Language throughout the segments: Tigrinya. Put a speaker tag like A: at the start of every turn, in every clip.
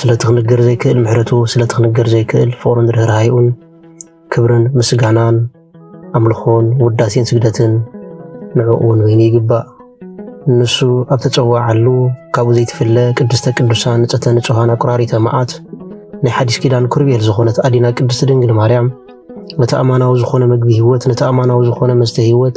A: ስለቲ ክንገር ዘይክእል ምሕረቱ ስለቲ ክንገር ዘይክእል ፍቅሩን ርህራሄኡን ክብርን ምስጋናን ኣምልኾን ውዳሴን ስግደትን ንዕኡ ንበይኑ ይግባእ። ንሱ ኣብ ተጸዋዓሉ ካብኡ ዘይትፍለ ቅድስተ ቅዱሳን ንጽሕተ ንጹሃን ኣቁራሪተ መዓት ናይ ሓዲስ ኪዳን ኩርቤል ዝኾነት ኣዲና ቅድስቲ ድንግል ማርያም ነቲ ኣማናዊ ዝኾነ ምግቢ ህይወት ነቲ ኣማናዊ ዝኾነ መስተ ህይወት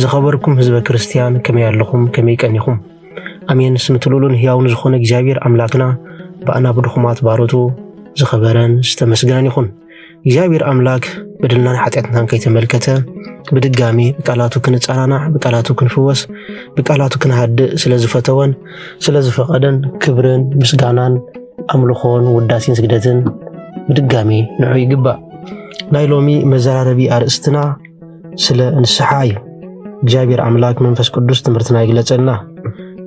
A: ዝኸበርኩም ህዝበ ክርስትያን ከመይ ኣለኹም? ከመይ ቀኒኹም? ኣሜን። ስም ትልሉን ህያውን ዝኾነ እግዚኣብሔር ኣምላክና ብኣና ብድኹማት ባሮቱ ዝኸበረን ዝተመስገነን ይኹን። እግዚኣብሔር ኣምላክ በደልናን ሓጢኣትናን ከይተመልከተ ብድጋሚ ብቃላቱ ክንጸናናዕ፣ ብቃላቱ ክንፍወስ፣ ብቃላቱ ክንሃድእ ስለ ዝፈተወን ስለ ዝፈቐደን ክብርን ምስጋናን ኣምልኾን ውዳሴን ስግደትን ብድጋሚ ንዑ ይግባእ። ናይ ሎሚ መዘራረቢ ኣርእስትና ስለ ንስሓ እዩ። እግዚኣብሔር ኣምላክ መንፈስ ቅዱስ ትምህርትና ይግለጸልና።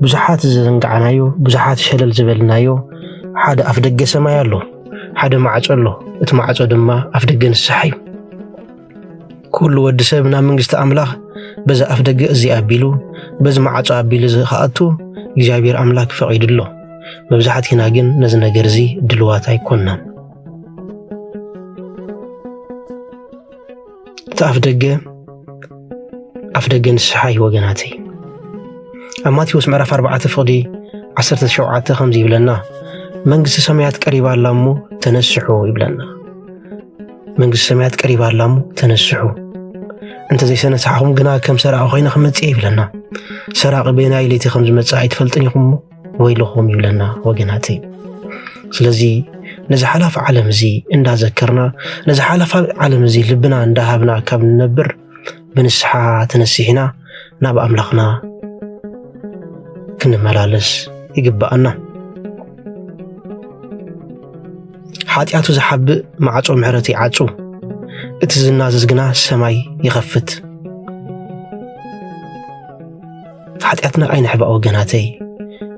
A: ብዙሓት ዝዘንጋዕናዮ ብዙሓት ሸለል ዝበልናዮ ሓደ ኣፍ ደገ ሰማይ ኣሎ፣ ሓደ ማዕጾ ኣሎ። እቲ ማዕጾ ድማ ኣፍ ደገ ንስሓ እዩ። ኩሉ ወዲ ሰብ ናብ መንግስቲ ኣምላኽ በዛ ኣፍ ደገ እዚ ኣቢሉ በዚ ማዕጾ ኣቢሉ ዝኸኣቱ እግዚኣብሔር ኣምላክ ፈቒዱ ኣሎ። መብዛሕቲና ግን ነዚ ነገር እዚ ድልዋት ኣይኮንናን። እቲ ኣፍ ደገ ኣፍ ደገ ንስሓ እዩ ወገናተይ ኣብ ማቴዎስ ምዕራፍ 4 ፍቕዲ 17 ከምዚ ይብለና መንግስቲ ሰማያት ቀሪባ ኣላ እሞ ተነስሑ ይብለና መንግስቲ ሰማያት ቀሪባ ኣላ እሞ ተነስሑ እንተዘይሰነስሓኹም ግና ከም ሰራቂ ኮይነ ክመፅእ ይብለና ሰራቂ በናይ ለይቲ ከም ዝመፅእ ኣይትፈልጥን ኢኹም ወይልኹም ይብለና ወገናተይ ስለዚ ነዚ ሓላፊ ዓለም እዚ እንዳዘከርና ነዚ ሓላፊ ዓለም እዚ ልብና እንዳሃብና ካብ ንነብር ብንስሓ ተነሲሕና ናብ ኣምላኽና ክንመላለስ ይግባኣና ሓጢኣቱ ዝሓብእ ማዕፆ ምሕረት ይዓፁ እቲ ዝናዘዝ ግና ሰማይ ይኸፍት ሓጢኣትና ኣይንሕባእ ወገናተይ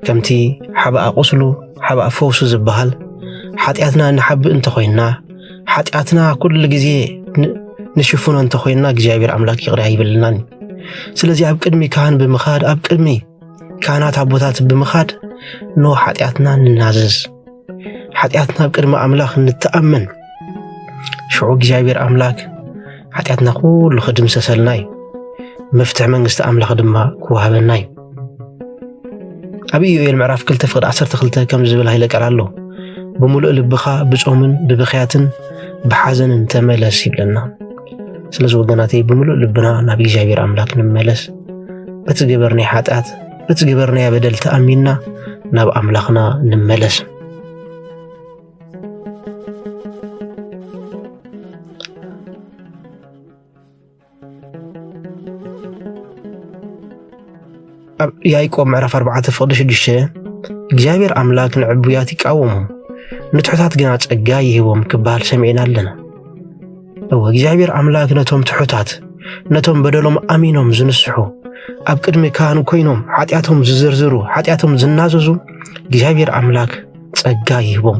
A: ከምቲ ሓባኣ ቁስሉ ሓባእ ፈውሱ ዝበሃል ሓጢኣትና ንሓብእ እንተኾይንና ሓጢኣትና ኩሉ ግዜ ንሽፍኖ እንተኾይንና እግዚኣብሔር ኣምላክ ይቕሪ ኣይብልናን እዩ ስለዚ ኣብ ቅድሚ ካህን ብምኻድ ኣብ ቅድሚ ካህናት ኣቦታት ብምኻድ ን ሓጢኣትና ንናዘዝ ሓጢኣትና ኣብ ቅድሚ ኣምላኽ ንተኣመን ሽዑ እግዚኣብሔር ኣምላክ ሓጢኣትና ኩሉ ክድምሰሰልና እዩ መፍትሒ መንግስቲ ኣምላኽ ድማ ክወሃበና እዩ ኣብ ኢዮኤል ምዕራፍ 2 ፍቅዲ 12 ከም ዝብል ሃይለ ቃል ኣሎ ብምሉእ ልብኻ ብጾምን ብብኽያትን ብሓዘንን ተመለስ ይብለና ስለዚ ወገናተይ ብምሉእ ልብና ናብ እግዚኣብሔር ኣምላክ ንመለስ በቲ ገበርናይ ሓጢኣት በቲ ዝበርናዮ በደል ተኣሚንና ናብ ኣምላኽና ንመለስ ኣብ ያዕቆብ ምዕራፍ 4 ፍቕዲ 6 እግዚኣብሔር ኣምላክ ንዕቡያት ይቃወሞም ንትሑታት ግና ጸጋ ይህቦም ክበሃል ሰሚዕና ኣለና እወ እግዚኣብሔር ኣምላክ ነቶም ትሑታት ነቶም በደሎም ኣሚኖም ዝንስሑ ኣብ ቅድሚ ካህን ኮይኖም ሓጢኣቶም ዝዝርዝሩ ሓጢኣቶም ዝናዘዙ እግዚኣብሔር ኣምላክ ጸጋ ይህቦም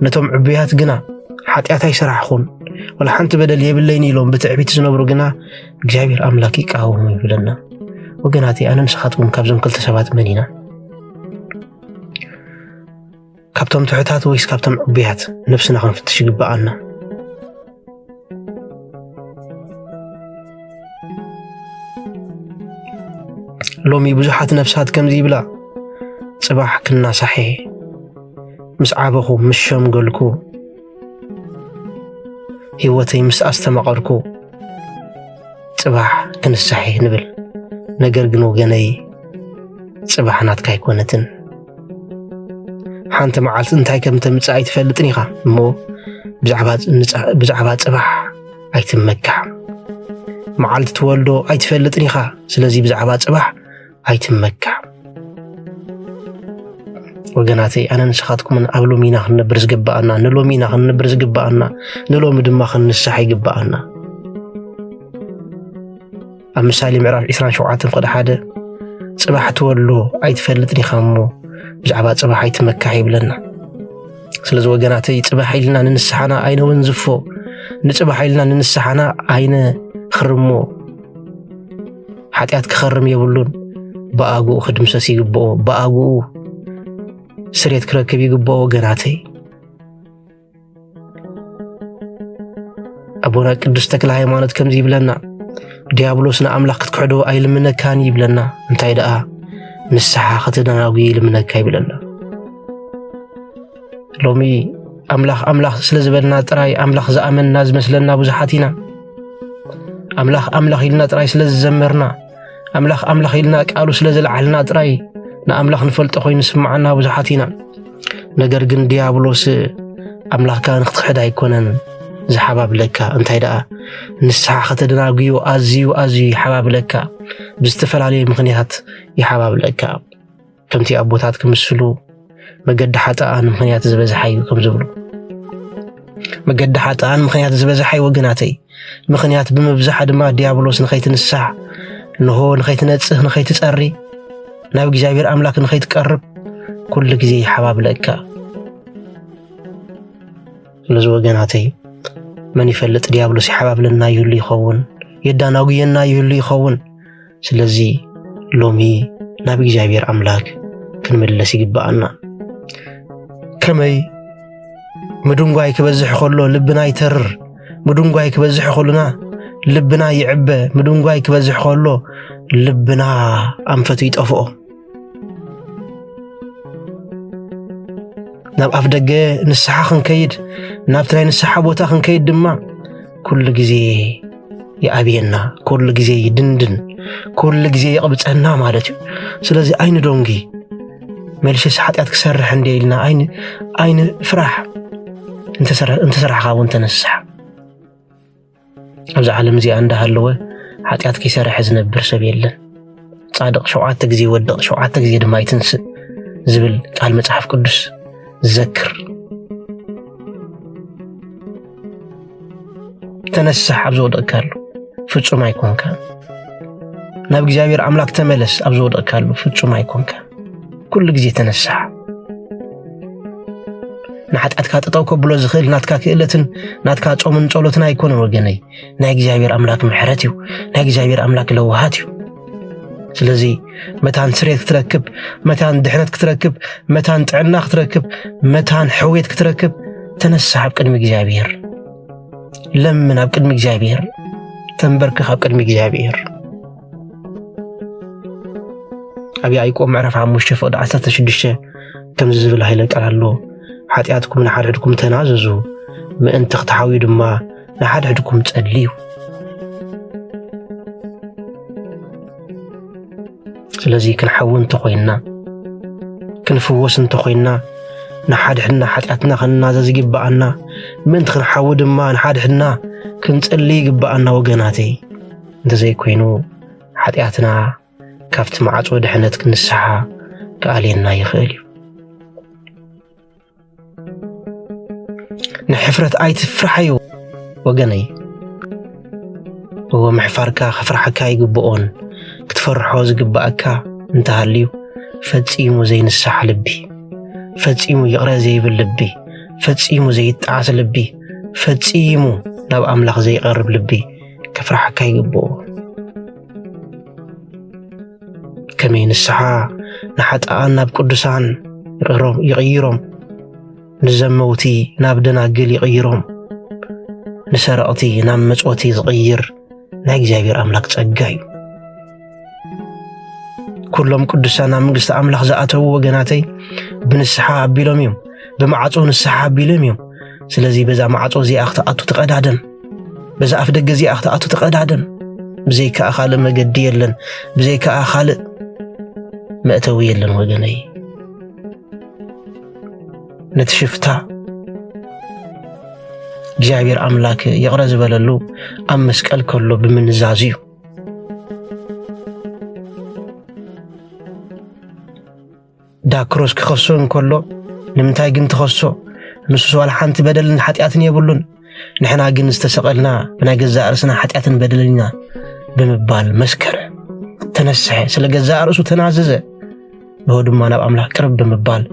A: ነቶም ዕቡያት ግና ሓጢኣት ኣይሰራሕኹን ወላ ሓንቲ በደል የብለይን ኢሎም ብትዕቢት ዝነብሩ ግና እግዚኣብሔር ኣምላክ ይቃወሙ ይብለና ወገናት ኣነ ንስኻትኩም ካብዞም ክልተ ሰባት መን ኢና ካብቶም ትሑታት ወይስ ካብቶም ዕቡያት ነብስና ክንፍትሽ ይግብኣና። ሎሚ ብዙሓት ነፍሳት ከምዚ ይብላ ጽባሕ ክናሳሐ ምስ ዓበኹ ምስ ሸምገልኩ ህይወተይ ምስ ኣስተማቐርኩ ጽባሕ ክንሳሐ ንብል ነገር ግን ወገነይ ጽባሕ ናትካ ኣይኮነትን ሓንቲ መዓልቲ እንታይ ከም ተምፅእ ኣይትፈልጥን ኢኻ እሞ ብዛዕባ ፅባሕ ኣይትመካዕ መዓልቲ ትወልዶ ኣይትፈልጥን ኢኻ ስለዚ ብዛዕባ ፅባሕ ኣይትመካዕ ወገናተይ ኣነ ንስኻትኩምን ኣብ ሎሚ ኢና ክንነብር ዝግባኣና ንሎሚ ኢና ክንነብር ዝግባኣና ንሎሚ ድማ ክንንሳሕ ይግባኣና ኣብ ምሳሌ ምዕራፍ 27 ቅዲ ሓደ ጽባሕ ትወሎ ኣይትፈልጥን ኢኻ እሞ ብዛዕባ ጽባሕ ኣይትመካሕ ይብለና ስለዚ ወገናተይ ጽባሕ ኢልና ንንስሓና ኣይነ ወንዝፎ ንጽባሕ ኢልና ንንስሓና ኣይነ ኽርሞ ሓጢኣት ክኸርም የብሉን ብኣግኡ ክድምሰስ ይግብኦ ብኣግኡ ስሬት ክረክብ ይግብኦ ወገናተይ ኣቦና ቅዱስ ተክለ ሃይማኖት ከምዚ ይብለና ዲያብሎስ ንኣምላኽ ክትክሕዶ ኣይልምነካን ይብለና እንታይ ደኣ ንስሓ ከተደናጒ ይልምነካ ይብለና ሎሚ ኣምላኽ ኣምላኽ ስለ ዝበልና ጥራይ ኣምላኽ ዝኣመንና ዝመስለና ብዙሓት ኢና ኣምላኽ ኣምላኽ ኢልና ጥራይ ስለ ዝዘመርና ኣምላኽ ኣምላኽ ኢልና ቃሉ ስለ ዝለዓልና ጥራይ ንኣምላኽ ንፈልጦ ኮይኑ ስምዓና ብዙሓት ኢና። ነገር ግን ዲያብሎስ ኣምላኽካ ንክትክሕድ ኣይኮነን ዝሓባብለካ፣ እንታይ ደኣ ንስሓ ከተደናጉዮ ኣዝዩ ኣዝዩ ይሓባብለካ፣ ብዝተፈላለየ ምኽንያት ይሓባብለካ። ከምቲ ኣቦታት ክምስሉ መገዲ ሓጥኣን ምክንያት ዝበዝሓ እዩ ከም ዝብሉ መገዲ ሓጥኣን ምክንያት ዝበዝሓ እዩ ወገናተይ ምክንያት ብምብዛሓ ድማ ዲያብሎስ ንኸይትንሳሕ እንሆ ንኸይትነጽህ ንኸይትጸሪ ናብ እግዚኣብሔር ኣምላክ ንኸይትቀርብ ኩሉ ግዜ ይሓባብለካ ስለዚ ወገናተይ መን ይፈልጥ ዲያብሎስ ይሓባብለና ይህሉ ይኸውን የዳናጉየና ይህሉ ይኸውን ስለዚ ሎሚ ናብ እግዚኣብሔር ኣምላክ ክንምለስ ይግብኣና። ከመይ ምድንጓይ ክበዝሕ ከሎ ልብና ይተርር፣ ምድንጓይ ክበዝሕ ከሎና ልብና ይዕበ፣ ምድንጓይ ክበዝሕ ከሎ ልብና ኣንፈቱ ይጠፍኦ። ናብ ኣፍ ደገ ንስሓ ክንከይድ ናብቲ ናይ ንስሓ ቦታ ክንከይድ ድማ ኩሉ ግዜ ይኣብየና፣ ኩሉ ግዜ ይድንድን፣ ኩሉ ግዜ ይቕብፀና ማለት እዩ። ስለዚ ኣይኒ ዶንጊ መልሽስ ሓጢኣት ክሰርሕ እንደ ኢልና ኣይኒ ኣይኒ ፍራሕ እንተሰራሕካ እውን ተነስሓ ኣብዚ ዓለም እዚኣ እንዳሃለወ ሓጢኣት ከይሰርሐ ዝነብር ሰብ የለን። ጻድቕ ሸውዓተ ግዜ ይወድቕ ሸውዓተ ግዜ ድማ ይትንስእ ዝብል ቃል መጽሓፍ ቅዱስ ዘክር። ተነሳሕ ኣብ ዝወደቕካሉ ፍጹም ኣይኮንካ። ናብ እግዚኣብሔር ኣምላክ ተመለስ ኣብ ዝወደቕካሉ ፍጹም ኣይኮንካ። ኩሉ ግዜ ተነሳሕ ንሓጢኣትካ ጠጠው ከብሎ ዝኽእል ናትካ ክእለትን ናትካ ጾምን ጸሎትን ኣይኮነን ወገነይ ናይ እግዚኣብሔር ኣምላክ ምሕረት እዩ ናይ እግዚኣብሔር ኣምላክ ለውሃት እዩ ስለዚ መታን ስሬት ክትረክብ መታን ድሕነት ክትረክብ መታን ጥዕና ክትረክብ መታን ሕውየት ክትረክብ ተነሳሕ ኣብ ቅድሚ እግዚኣብሔር ለምን ኣብ ቅድሚ እግዚኣብሔር ተንበርክኽ ኣብ ቅድሚ እግዚኣብሔር ኣብ ያዕቆብ ምዕራፍ ሓሙሽተ ፍቕዲ ዓሰርተ ሽዱሽተ ከምዚ ዝብል ሃይለ ቃል ኣሎ ሓጢኣትኩም ንሓድሕድኩም ተናዘዙ ምእንቲ ክትሓውዩ ድማ ንሓድሕድኩም ጸልዩ ስለዚ ክንሓዊ እንተኾይንና ክንፍወስ እንተኾይንና ንሓድሕድና ሓጢኣትና ክንናዘዝ ይግብኣና ምእንቲ ክንሓዊ ድማ ንሓድሕድና ክንጸልይ ይግብኣና ወገናተይ እንተዘይኮይኑ ሓጢኣትና ካብቲ ማዕጾ ድሕነት ክንስሓ ክኣልየና ይኽእል እዩ። ንሕፍረት ኣይትፍርሓዮ ወገነይ እዎ ምሕፋርካ ከፍርሓካ ይግብኦን ክትፈርሖ ዝግብኣካ እንተሃልዩ ፈጺሙ ዘይንሳሕ ልቢ ፈጺሙ ይቕረ ዘይብል ልቢ ፈጺሙ ዘይጣዓስ ልቢ ፈጺሙ ናብ ኣምላኽ ዘይቐርብ ልቢ ከፍርሓካ ይግብኦ ከመይ ንስሓ ንሓጣኣን ናብ ቅዱሳን ይቕይሮም ንዘመውቲ ናብ ደናግል ይቕይሮም ንሰረቕቲ ናብ መጽወቲ ዝቕይር ናይ እግዚኣብሔር ኣምላክ ጸጋ እዩ ኩሎም ቅዱሳን ኣብ መንግስቲ ኣምላኽ ዝኣተዉ ወገናተይ ብንስሓ ኣቢሎም እዮም ብማዕፆ ንስሓ ኣቢሎም እዮም ስለዚ በዛ ማዕፆ እዚኣ ክትኣቱ ተቐዳደም በዛ ኣፍ ደገ እዚኣ ክትኣቱ ተቐዳደም ብዘይከኣ ካልእ መገዲ የለን ብዘይከኣ ካልእ መእተዊ የለን ወገነይ ነቲ ሽፍታ እግዚኣብሔር ኣምላክ ይቕረ ዝበለሉ ኣብ መስቀል ከሎ ብምንዛዙ እዩ ዳክሮስ ክኸሶ እንከሎ ንምንታይ ግን ትኸሶ ንሱስ ዋላ ሓንቲ በደልን ሓጢኣትን የብሉን ንሕና ግን ዝተሰቐልና ብናይ ገዛእ ርእስና ሓጢኣትን በደልን ኢና ብምባል መስከረ ተነስሐ ስለ ገዛእ ርእሱ ተናዘዘ ንሆ ድማ ናብ ኣምላኽ ቅርብ ብምባል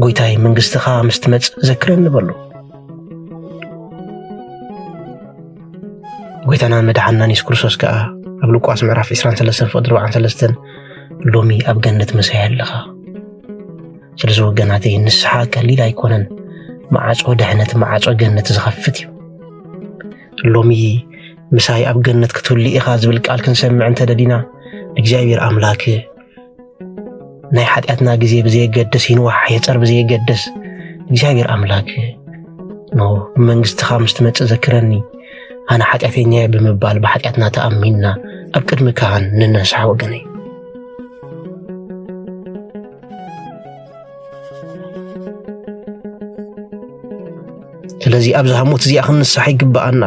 A: ጎይታይ መንግስትኻ ምስ ትመጽእ ዘክረኒ በሉ። ጎይታናን መድሓናን የሱስ ክርስቶስ ከዓ ኣብ ሉቃስ ምዕራፍ 23 ፍቅዲ 43 ሎሚ ኣብ ገነት መሳይ ኣለኻ ስለዚ ወገናተይ ንስሓ ቀሊል ኣይኮነን መዓፆ ድሕነት መዓፆ ገነት ዝኸፍት እዩ ሎሚ ምሳይ ኣብ ገነት ክትህሉ ኢኻ ዝብል ቃል ክንሰምዕ እንተደሊና እግዚኣብሔር ኣምላክ ናይ ሓጢኣትና ግዜ ብዘየገድስ ይንዋሕ የፀር ብዘየገድስ እግዚኣብሔር ኣምላክ ኖ ብመንግስትኻ ምስ ትመፅእ ዘክረኒ ኣነ ሓጢኣተኛ እየ ብምባል ብሓጢኣትና ተኣሚንና ኣብ ቅድሚ ካህን ንነስሓ ወገነይ ስለዚ ኣብዛ ሞት እዚኣ ክንንሳሕ ይግብኣና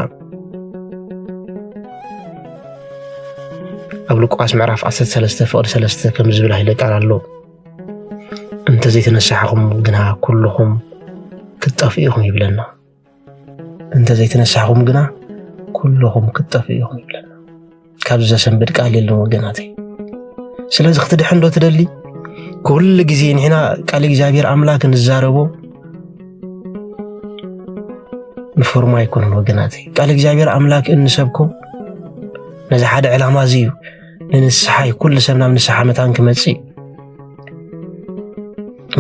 A: ኣብ ሉቃስ ምዕራፍ 13 ፍቕዲ 3 ከም ዝብል ሃይለ ቃል ኣሎ እንተዘይተነሳሕኹም ግና ኩልኹም ክትጠፍኡ ኢኹም ይብለና እንተ ዘይተነሳሕኹም ግና ኩልኹም ክትጠፍኡ ኢኹም ይብለና ካብዚ ዘሰንብድ ቃል የለን ወገናተይ ስለዚ ክትድሕን ዶ ትደሊ ኩሉ ግዜ ንሕና ቃል እግዚኣብሔር ኣምላክ ንዛረቦ ንፎርማ ኣይኮነን ወገናተይ ቃል እግዚኣብሔር ኣምላክ እንሰብኮ ነዚ ሓደ ዕላማ እዚ እዩ ንንስሓ እዩ ኩሉ ሰብ ናብ ንስሓ መታን ክመፅእ እዩ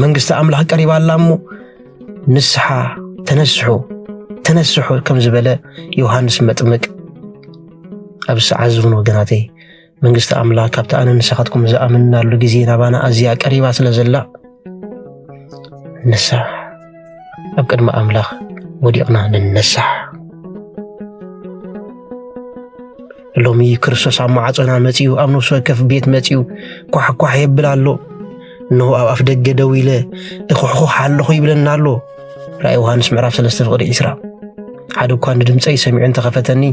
A: መንግስቲ ኣምላክ ቀሪባ ኣላ እሞ ንስሓ ተነስሑ ተነስሑ ከም ዝበለ ዮሃንስ መጥምቅ ኣብ ሰዓት ዝውን ወገናተይ መንግስቲ ኣምላኽ ካብቲ ኣነ ንስኻትኩም ዝኣምንናሉ ግዜ ናባና ኣዝያ ቀሪባ ስለ ዘላ ንሳሕ ኣብ ቅድሚ ኣምላኽ ወዲቕና ንነሳሕ ሎሚ ክርስቶስ ኣብ ማዕጾና መጺኡ ኣብ ነፍሲ ወከፍ ቤት መጺኡ ኳሕኳሕ የብል ኣሎ እንሆ ኣብ ኣፍ ደገ ደው ኢለ እኹሕኹሕ ኣለኹ ይብለና ኣሎ ራእይ ዮሃንስ ምዕራፍ 3 ፍቕሪ 20 ሓደ እኳ ንድምፀይ ሰሚዑ እንተኸፈተኒ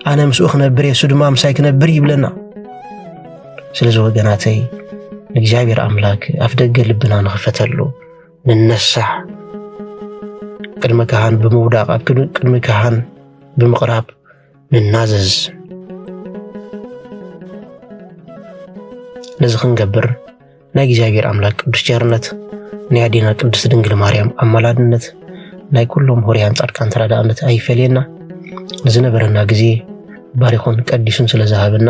A: ኣነ ምስኡ ክነብር የሱ ድማ ምሳይ ክነብር ይብለና ስለዚ ወገናተይ ንእግዚኣብሔር ኣምላክ ኣፍ ደገ ልብና ንኽፈተሉ ንነሳሕ ቅድሚ ካህን ብምውዳቕ ኣብ ቅድሚ ካህን ብምቕራብ ንናዘዝ። ነዚ ክንገብር ናይ እግዚኣብሔር ኣምላክ ቅዱስ ቸርነት ናይ ኣዴና ቅድስት ድንግል ማርያም ኣማላድነት ናይ ኩሎም ሆርያን ጻድቃን ተራዳእነት ኣይፈለየና። ንዝነበረና ግዜ ባሪኹን ቀዲሱን ስለ ዝሃበና